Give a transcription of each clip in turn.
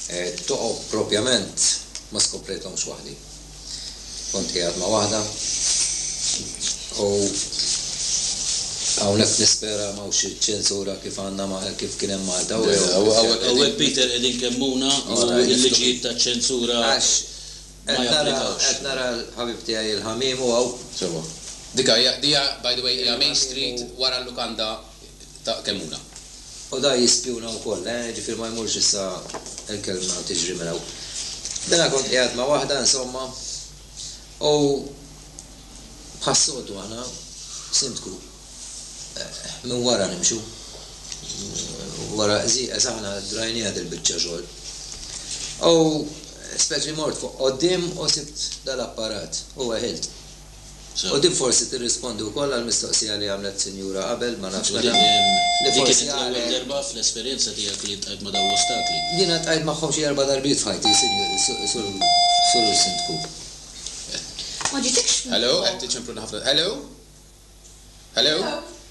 Qed toqgħod propjament ma skoprejthomx waħdi. Kont qiegħed ma' waħda u hawnhekk nispera ma hawnx ċensura kif għandna ma' kif kien hemm Malta u jew kif se jkun. Hawnhekk Peter qegħdin kemmuna u l-liġijiet taċ-ċensura ma japplikawx. Qed nara l-ħabib tiegħi l-ħamiem u hawn. Sewa. Dik hija, by the way, hija Main Street wara l-lukanda. ta' kemm huna. U da jispjuna wkoll, eh, jiġifieri ma jmurx issa il-kelma u tiġri minn hawn. Dana kont qiegħed ma' waħda, insomma, u bħas-soltu aħna, Sindku, minn wara nimxu. Wara qżieqeż aħna drajnieha dil-biċċa xogħol. U speċi mort fuq quddiem u sibt dal-apparat u weħilt. U din forsi tirrispondi wkoll għall-mistoqsija li għamlet sinjura qabel, ma nafx meta, li forsi għalhekk. Din kienet l-ewwel darba fl-esperjenza tiegħek li ltqajt ma' dawn l-ostakli? Jiena ltqajt magħhom xi erba' darbiet f'ħajti, Sur Sindku. Hello, qed tiċemplu ħafna. Hello? Hello?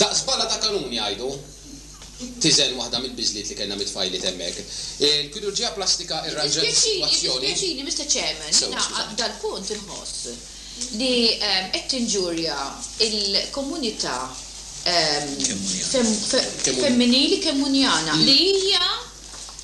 Daqs bala ta' kanun jgħidu! tiżen waħda mill-biżliet li kellna mit-tfajliet hemmhekk. Il-kirurġija plastika irranġat is-sitwazzjoni. Jiddispjaċini, Mister Chairman, jiena dal-punt inħoss li qed tinġurja l-komunità femminili Kemmunjana li hija,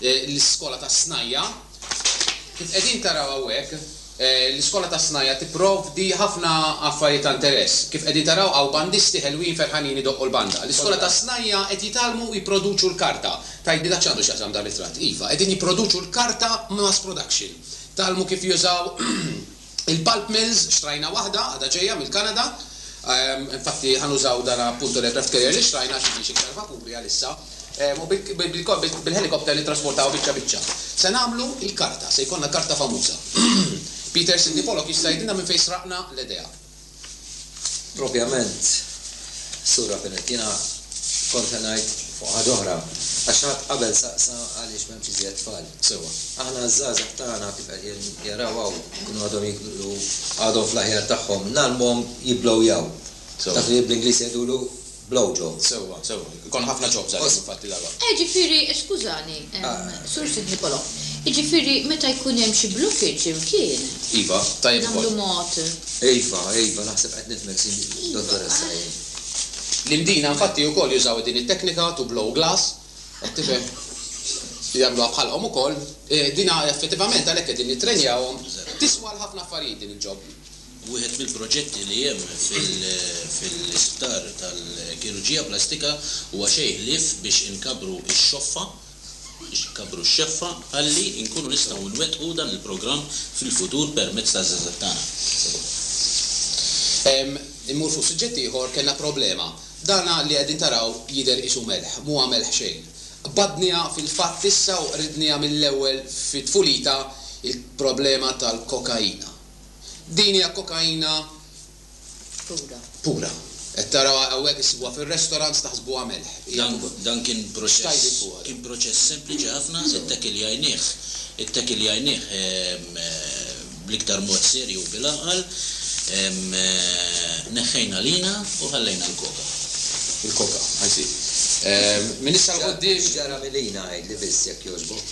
l-iskola tas-snajja'. Kif qegħdin taraw hawnhekk, l-iskola tas-snajja' tipprovdi ħafna affarijiet ta' interess. Kif qegħdin taraw hawn bandisti ħelwin ferħanin idoqqu l-banda. L-iskola tas-snajja' qed jitgħallmu u jipproduċu l-karta. Tgħidli dak x'għandu x'jaqsam dan ritratt? Iva, qegħdin jipproduċu l-karta b'mass production. Tgħallmu kif jużaw Il-pulp mills xtrajna waħda, għadha ġejja mill-Kanada. Infatti ħa nużaw dan appunto l-aircraft carrier li xtrajna għax m'għandniex iktar vapuri għalissa. U bil-helicopter nittrasportawha biċċa biċċa. Se nagħmlu l-karta, se jkollna karta famuża. Peter Sidney Pollock jista' jgħidilna minn fejn sraqna l-idea. Propjament, Sur Rapinett, jiena kont ħa ngħid fuq ħaġa oħra, għax ħadd qabel saqsa għaliex m'hemmx iżjed tfal. Sewwa. Aħna ż-żgħażagħ tagħna kif qed jaraw hawn, ikunu għadhom jikbru, għadhom fl-aħjar tagħhom, ngħallmuhom jibblowjaw. Taf li bl-Ingliż jgħidulu? Blow job, sewwa, sewwa. Ikollna ħafna jobs għalihom infatti dalwaqt. Eh, ġifieri, skużani, Sur Sid Nicolo, jiġifieri meta jkun hemm xi blockage imkien. Iva, tajjeb ukoll. Nagħmlu mod. Iva, iva, naħseb qed nifhmek, sin, Dottoressa, jien. L-Imdina infatti ukoll jużaw din it-teknika to blow glass, qed tifhem? Jagħmluha bħalhom ukoll. Din effettivament għalhekk qegħdin nittrenjawhom. Tiswa għal ħafna affarijiet din il-job. Wieħed mill-proġetti li hemm fil-isptar tal-kirurġija plastika huwa xejn ħlief biex inkabbru x-xoffa, biex inkabbru x-xeffa ħalli nkunu nistgħu nwettqu dan il-programm fil-futur permezz taż-żgħażagħ tagħna. Immur fuq suġġett ieħor, kellna problema. Dan li qegħdin taraw jidher qisu melħ, m'huwa melħ xejn. Qbadniha fil-fatt issa u qridniha mill-ewwel fi tfulitha l-problema tal-kokaina. Din hija kokaina pura. Qed tarawha hawnhekk issibuha fir-restaurants taħsbuha melħ. Hija pura. Dan kien proċess kien proċess sempliċi ħafna, ittekiljajnieh ittekiljajnieh bl-iktar mod serju u bil-għaqal, neħħejna l-ħina u ħallejna l-koka. Il-koka, I see. Minn issa 'l quddiem. X'ġara mill-ħina għidli biss jekk jogħġbok?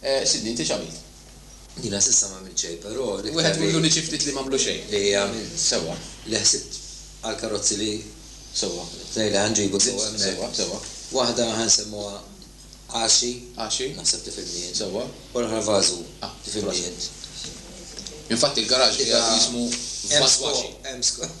Sidni, inti x'għamilt? Jiena s'issa m'għamilt xejn, però l-iktar li. Wieħed ikollu li xi ftit li m'għamlu xejn. Li għamilt sewwa, li ħsibt għall-karozzi li. Sewwa, tnejn li ħa nġibu sewwa hemmhekk. Sewwa, sewwa. Waħda ħa nsemmuha Għaxi. Għaxi. Naħseb tifhimni int. Sewwa. U l-oħra Vażu. Ah. Tifhimni int. Infatti l-garaxx qiegħed jismu Vażwaxi. Hemm skop, hemm skop.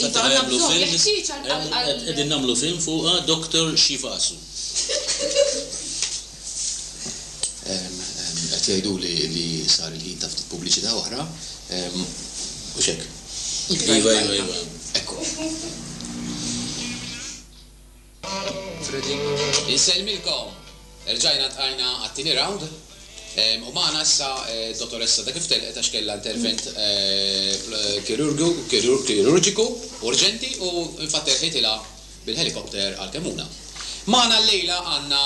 Iva, għandna bżonn, jeħtieġ għal, għal, għal. Qegħdin nagħmlu film fuqha, Doctor Xi Fasu. Qed jgħiduli li sar il-ħin ta' ftit pubbliċità oħra, hux hekk? Iva, iva, iva. Ekku. Insellmilkom! Erġajna ltqajna għat-tieni round u magħna issa d-Dottoressa ta' kif telqet għax kellha intervent kirurġiku urġenti u infatti erħitilha bil-helicopter għal Kemmuna. Magħna llejla għandna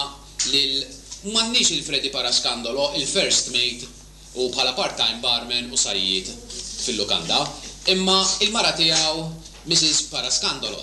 lil m'għandniex lil Freddy Parascandolo, il-first mate u bħala part-time barman u sajjied fil-lukanda, imma il-mara tiegħu Mrs. Parascandolo.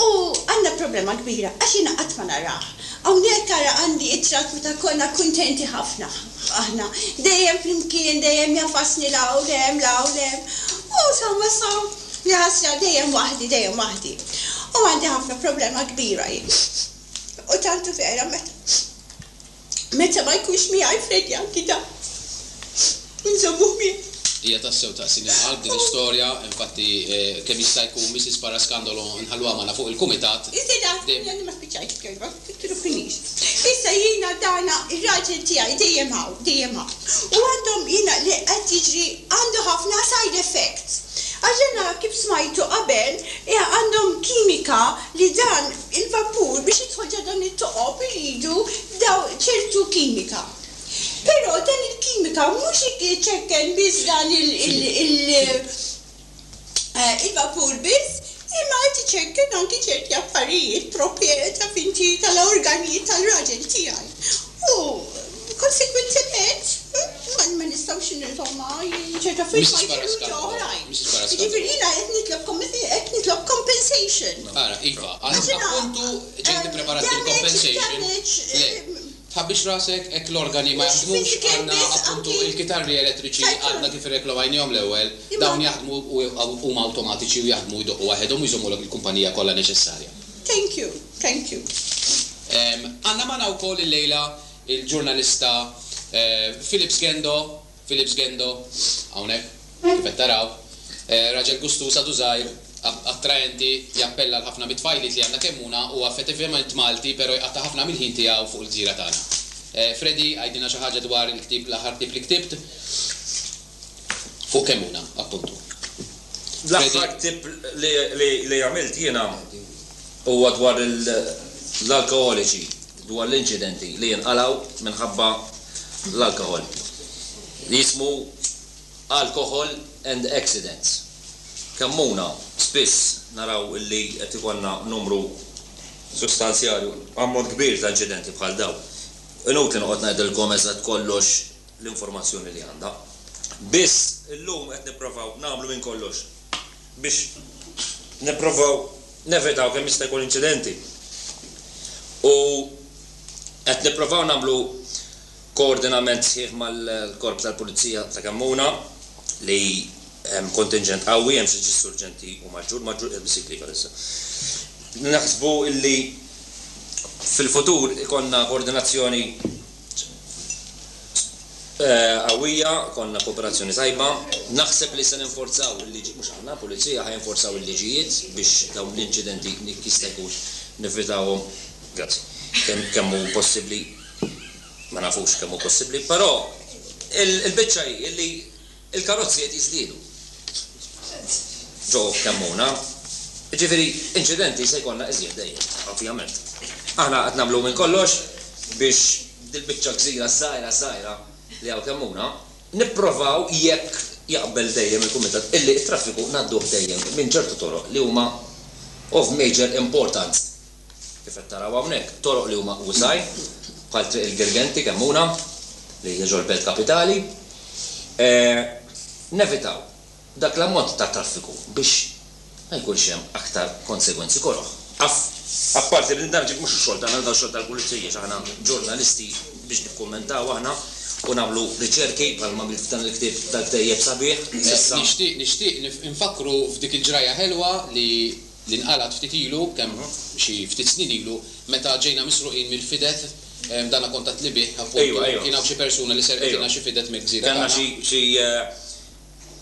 U għandna problema kbira għax jiena qatt ma narah. Hawnhekk ara għandi ittra meta konna kuntenti ħafna aħna. Dejjem flimkien, dejjem jagħfasni 'l hawn, 'l hemm, 'l hawn, 'l hemm. U sa ma sa, jaħasra, dejjem waħdi, dejjem waħdi. U għandi ħafna problema kbira jien. U tant u vera meta. Meta ma jkunx miegħi Freddy anki dan inżommuh miegħi. Hija tassew taqsim il-qalb din is-storja, infatti kemm jista' jkun Mrs. Parascandolo nħalluha magħna fuq il-kumitat. Iżda naf li għadni ma spiċċajtx b'kelma, titruħinix. Issa jiena dana r-raġel tiegħi dejjem hawn, dejjem hawn. U għandhom jiena li qed jiġri għandu ħafna side effects. Għax dana kif smajtu qabel għandhom kimika li dan Il-vapur biex jidħol ġo dawn it-toqob iridu daw ċertu kimika. Però dan il-kimika mhux iċekken biss dan il-vapur biss imma qed iċekken anki ċerti affarijiet, propjet, taf inti, tal-organi tal-raġel tiegħi. U. Konsegwentement, ma nistgħux nilqgħu ma' ċerti affarijiet ma jfirrux ġo oħrajn. Jiġifieri jiena qed nitlobkom qed nitlob compensation. Ara, Iva, għad appuntu ġejt ippreparat bil-compensation. Le, tħabbix rasek, hekk l-organi ma jaħdmux, għandna appuntu l-kitarri elettriċi għadna kif irreklomajniehom l-ewwel, dawn jaħdmu u huma awtomatiċi u jaħdmu jdoqqu waħedhom u jżommulek il-kumpanija kollha neċessarja. Thank you, thank you. Għandna magħna wkoll illejla il-ġurnalista Philips Gendo, Philips Gendo, hawnhekk, kif qed taraw, raġel gustuż għadu żgħir, attraenti, jappella l-ħafna mit-tfajliet li għandna Kemmuna, huwa effetivament Malti pero jqatta' ħafna mill-ħin tiegħu fuq il-gżira tagħna. Freddy, għidilna xi ħaġa dwar il-ktieb, l-aħħar ktieb li ktibt. Fuq kemm hu dan, appuntu? L-aħħar ktieb li għamilt jiena huwa dwar l-alkoħoliċi, dwar l-inċidenti li jinqalgħu minħabba l-alkoħol. Jismu Alcohol and Accidents. Kemmuna spiss naraw li qed ikollna numru sustanzjali, ammont kbir ta' inċidenti bħal dawn. Inutli noqgħod ngħidilkom eżatt kollox. l-informazzjoni li għandha. Biss, illum qed nipprovaw nagħmlu minn kollox biex nipprovaw nevitaw kemm jista' jkun inċidenti. U qed nipprovaw nagħmlu koordinament sħiħ mal-Korp tal-Pulizija ta' Kemmuna li hemm kontinġent qawwi, hemm xi ġissurġenti u maġġur, maġġur qiegħed biss jiklika s'issa. Naħsbu illi fil-futur ikollna koordinazzjoni qawwija, konna kooperazzjoni tajba. Naħseb li se ninforzaw il-liġi, mhux aħna, pulizija ħa jinforzaw il-liġijiet biex dawn l-inċidenti jekk jista' jkun nevitawhom. Grazzi. Kemm kemm hu possibbli ma nafux kemm hu possibbli, però il-biċċa hi li Il-karozzi qed jiżdiedu ġo Kemmuna, jiġifieri inċidenti se jkollna iżjed dejjem, ovvjament. Aħna qed nagħmlu minn kollox biex dil-biċċa gżira żgħira żgħira li hawn Kemmuna, nipprovaw jekk jaqbel dejjem il-Kumitat illi t-traffiku ngħadduh dejjem minn ċertu toroq li huma of major importance. Kif qed taraw hawnhekk, toroq li huma usa' bħal Triq il-Girgenti Kemmuna, li hija ġol Belt Kapitali, nevitaw dak l-ammont ta' traffiku biex ma jkunx hemm aktar konsegwenzi koroh. Apparti li dan mhux ix-xogħol tagħna, dan ix-xogħol tal-Pulizija, x'aħna ġurnalisti biex nikkummentaw aħna u nagħmlu riċerki bħalma għamilt f'dan il-ktieb dal-ktejjeb sabiħ. Nixtieq infakkru f'dik il-ġrajja ħelwa li li nqalgħet ftit ilu, kemm xi ftit snin ilu, meta ġejna misruqin mill-fidet, dana kont għedtli bih, appunt, u kien hawn xi persuna li serqetilna xi fidet mill-gżira tagħna. Kellna xi, xi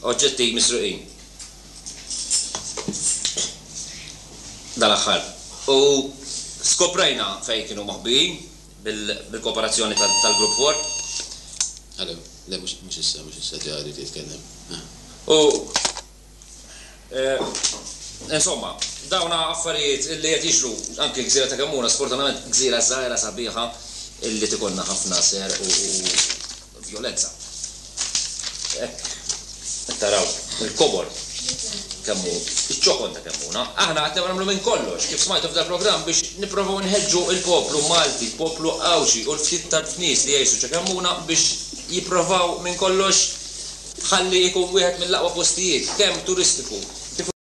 oġġetti misruqin dal-aħħar u skoprejna fejn kienu moħbijin bil-kooperazzjoni tal-Grupp Warp. Hello, le mhux, mhux issa, mhux issa, ġa rrid jitkellem. U. Insomma, dawn affarijiet li qed jiġru anki l-gżira ta' Kemmuna, sfortunatament gżira żgħira sabiħa li tikollna ħafna ser u vjolenza. Hekk qed taraw il-kobor kemm hu ċ-ċokon ta' Kemmuna. Aħna qed nagħmlu minn kollox, kif smajtu f'dal-programm, biex nipprovaw nħeġġu l-poplu Malti, l-poplu Għawdxi u l-ftit tarf nies li jgħixu ċe Kemmuna biex jipprovaw minn kollox, tħalli jkun wieħed mill-aqwa postijiet kemm turistiku kif